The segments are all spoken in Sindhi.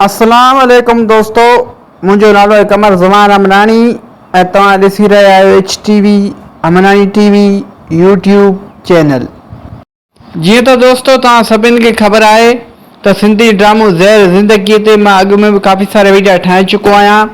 اسلام عليڪم دوستو منهنجو نالو آهي قمر زمان امناڻي ۽ توهان ڏسي رهيا آهيو H T V Amnani T V YouTube channel جيئن ته دوستو توهان سڀني کي خبر آهي ته سنڌي ڊرامو زهر زندگي تي مان اڳ ۾ به ڪافي سارا ويڊيا ٺاهي چڪو آهيان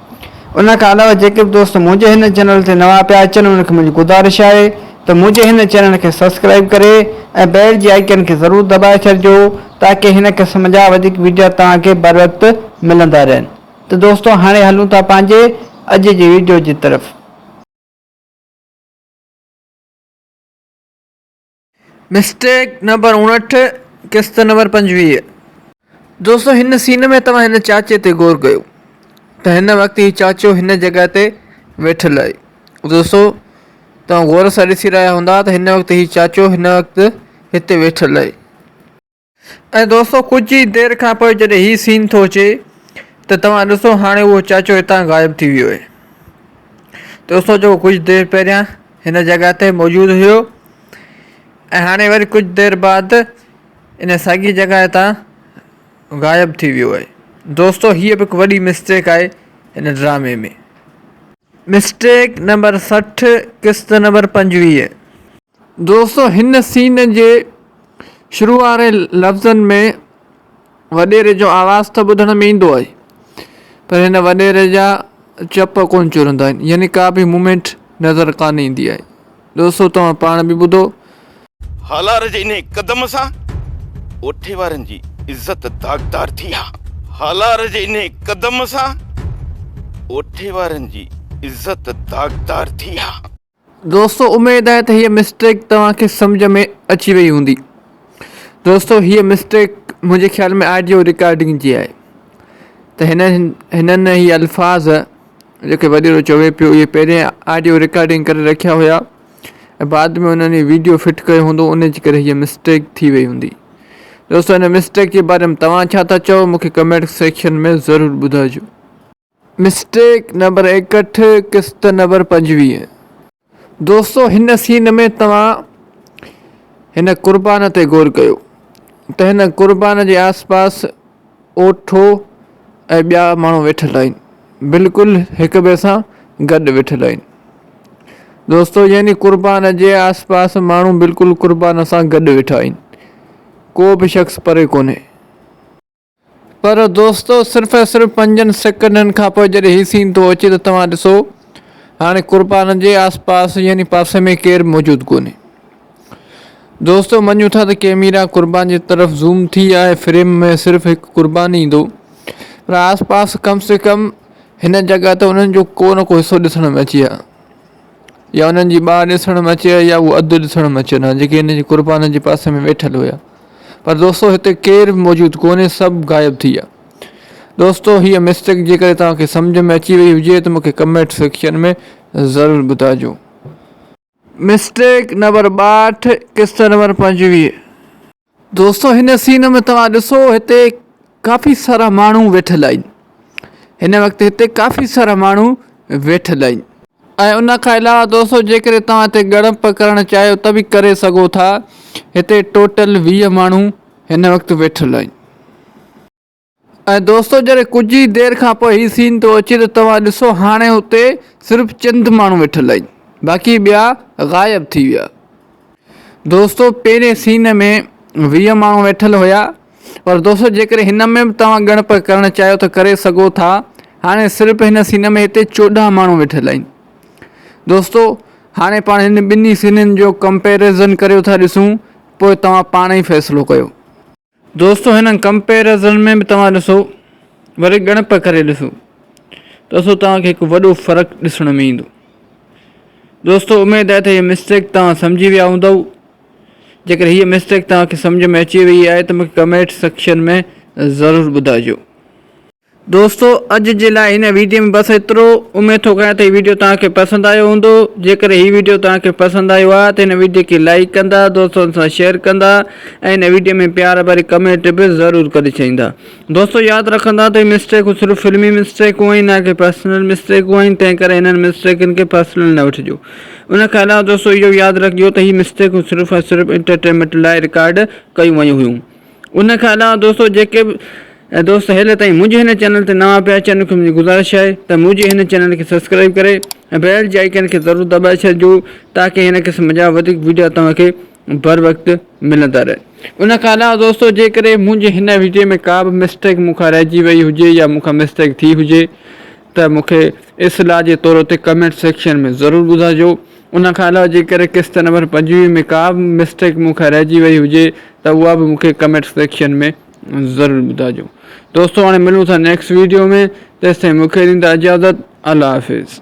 ان کان علاوه جيڪي به دوست منهنجي هن چينل تي نوان پيا اچن انهن کي منهنجي گذارش آهي ته منهنجي هن چينل کي سبسڪرائيب ڪري ۽ بيل جي آئيڪن کي ضرور دٻائي ڇڏجو تاڪه هن قسم جا وڌيڪ ويڊيا توهان کي بروقت ملندا رهن ته دوستو هاڻي هلون ٿا پنهنجي اڄ جي ويڊيو جي طرف. مسٽيڪ نمبر اڻهٺ قسط نمبر پنجويهه دوستو هن سين ۾ توهان هن چاچي تي غور ڪيو ته هن وقت هي چاچو هن جڳهه تي ويٺل آهي دوستو توهان غور سان ڏسي رهيا هوندا ته هن وقت هي چاچو هن وقت هتي ويٺل آهي ۽ دوستو ڪجهه ئي دير کان پوء جڏهن هي سين ٿو اچي ته توهان ڏسو هاڻي اهو چاچو هتان غائب ٿي ويو آهي دوستو جيڪو ڪجهه دير پهريان هن جڳهه تي موجود هيو ۽ هاڻي وري ڪجهه دير بعد ان ساڳي جڳهه تان غائب ٿي ويو آهي دوستو هيء به هڪ وڏي مسٽيڪ آهي هن ڊرامي ۾ مسٽيڪ نمبر سٺ قسط نمبر پنجويهه. دوستو هن سين جي شروع واري لفظن ۾ وڏيري جو آواز ته ٻڌڻ ۾ ايندو آهي پر هن وڏيري جا چپ ڪونه چرندا آهن يعني ڪا به مومينٽ نظر ڪانه ايندي آهي دوستو توهان پاڻ به ٻڌو. هالار جي انهي قدم سان اوٺي وارن جي عزت داغدار ٿي ها. هالار جي انهي قدم سان اوٺي وارن جي عزت داغدار ٿي ها. دوستو اميد آهي ته هيء مسٽيڪ توهان کي سمجهه ۾ اچي وئي هوندي دوستو هيء مسٽيڪ منهنجي خيال ۾ آڊيو رڪارڊنگ جي آهي ته هن هنن هي الفاظ جيڪي وڏيرو چوي پيو اهي پهرين آڊيو رڪارڊنگ ڪري رکيا هيا ۽ بعد ۾ انهن ويڊيو فٽ ڪيو هوندو ان جي ڪري هيء مسٽيڪ ٿي وئي هوندي دوستو هن مسٽيڪ جي باري ۾ توهان ڇا ٿا چئو مون کي ڪمينٽ سيڪشن ۾ ضرور ٻڌائجو مسٽيڪ نمبر ايڪهٺ قسط نمبر پنجويهه. دوستو هن سين ۾ توهان هن قربان تي غور ڪيو ته هن قربان جي آس پاس اوٺو ۽ ٻيا ماڻهو ويٺل آهن بلڪل هڪ ٻئي سان گڏ ويٺل آهن دوستو يعني قربان جي آس پاس ماڻهو بلڪل قربان سان گڏ ويٺا آهن ڪو به شخص پري ڪونهي. پر دوستو صرف ۽ صرف پنجن سيڪنڊن کان پوء جڏهن هي سين ٿو اچي ته توهان ڏسو هاڻي قربان جي آس پاس يعني پاسي ۾ ڪير موجود ڪونهي. دوستو مڃون ٿا ته ڪيميرا قربان جي طرف زوم ٿي آهي فريم ۾ صرف هڪ قربان ئي ايندو پر آس پاس ڪم سي ڪم هن جڳهه ته انهن جو ڪو نه ڪو حصو ڏسڻ ۾ اچي ها. يا انهن جي ٻانهن ڏسڻ ۾ اچي ها يا اهو اڌ ڏسڻ ۾ اچن ها جيڪي هن جي قربانن جي پاسي ۾ ويٺل هيا پر دوستو هتي ڪير به موجود ڪونهي سڀ غائب ٿي ويا دوستو هيء مسٽيڪ جيڪڏهن توهان کي سمجهه ۾ اچي وئي هجي ته مون کي ڪمينٽ سيڪشن ۾ ضرور ٻڌائجو. مسٽيڪ نمبر ٻاهٺ قسط نمبر پنجويهه. دوستو هن سين ۾ توهان ڏسو هتي ڪافي سارا ماڻهو ويٺل آهن هن وقت هتي ڪافي سارا ماڻهو ويٺل آهن ۽ ان کان علاوه دوستو جيڪڏهن توهان هتي ڳڙپ ڪرڻ چاهيو ته به ڪري سگهو ٿا هتي ٽوٽل ويهه ماڻهو هن وقت ويٺل آهن ۽ دوستو جڏهن ڪجهه ئي دير کان پوء هي سين ٿو اچي ته توهان ڏسو هاڻي هتي صرف چند ماڻهو ويٺل آهن باقي ٻيا غائب ٿي ويا دوستو پهرين سين ۾ ويهه ماڻهو ويٺل هيا پر دوستو جيڪڏهن هن ۾ به توهان ڳڻپ ڪرڻ چاهيو ته ڪري سگهو ٿا هاڻي صرف هن سين ۾ هتي چوڏهن ماڻهو ويٺل آهن دوستو هاڻي پاڻ هن ٻنهي سينن جو ڪمپيرزن ڪريو ٿا ڏسون پوء توهان پاڻ ئي فيصلو ڪيو دوستو هنن ڪمپيرزن ۾ به توهان ڏسو وري ڳڻپ ڪري ڏسو ته اسو توهان کي هڪ وڏو فرق ڏسڻ ۾ ايندو دوستو اميد آهي ته هي مسٽيڪ توهان سمجهي ويا هوندو جيڪڏهن هي مسٽيڪ توهان کي سمجهه ۾ اچي وئي آهي ته مونکي ڪمينٽ سيڪشن ۾ ضرور ٻڌائجو دوستو اڄ جي لاء هن ويڊيو ۾ بس ايترو، اميد ٿو ڪريان ته هي ويڊيو توهان کي پسند آيو هوندو، جيڪڏهن هي ويڊيو توهان کي پسند آيو آهي ته هن ويڊيو کي لائيڪ ڪندا، دوستن سان شيئر ڪندا ۽ هن ويڊيو ۾ پيار ڀري ڪمينٽ به ضرور ڪري ڇڏيندا. دوستو ياد رکندا ته هي مسٽيڪون صرف فلمي مسٽيڪون آهن نه ڪي پرسنل مسٽيڪون آهن تنهن ڪري هنن مسٽيڪن کي پرسنل نه وٺجو. ان کان علاوه دوستو اهو ياد رکجو ته هي مسٽيڪون صرف ۽ صرف انٽرٽينمينٽ لاء رڪارڊ ڪيون ويون هيون. ان کان علاوه دوستو جيڪي به دوست هيل تائين منهنجي هن چينل تي نوان پيا اچن ان کي منهنجي گذارش آهي ته منهنجي هن چينل کي سبسڪرائب ڪري ۽ بيل جي آئيڪن کي ضرور دٻائي ڇڏجو تاڪي هن قسم جا وڌيڪ ويڊيو توهان کي بر وقت ملندا رهن ان کان علاوه دوستو جيڪڏهن منهنجي هن ويڊيو ۾ ڪا به مسٽيڪ مون کان رهجي وئي هجي يا مون کان مسٽيڪ ٿي هجي ته مون کي اصلاح جي طور تي ڪمينٽ سيڪشن ۾ ضرور ٻڌائجو ان کان علاوه جيڪر قسط نمبر پنجويهه ۾ ڪا به مسٽيڪ مون کان رهجي وئي هجي ته اها به مون کي ڪمينٽ سيڪشن ۾ ضرور ٻڌائجو دوستو هاڻي ملون ٿا نيڪسٽ ويڊيو ۾ تيستائين مون کي ڏيندا اجازت الله حافظ.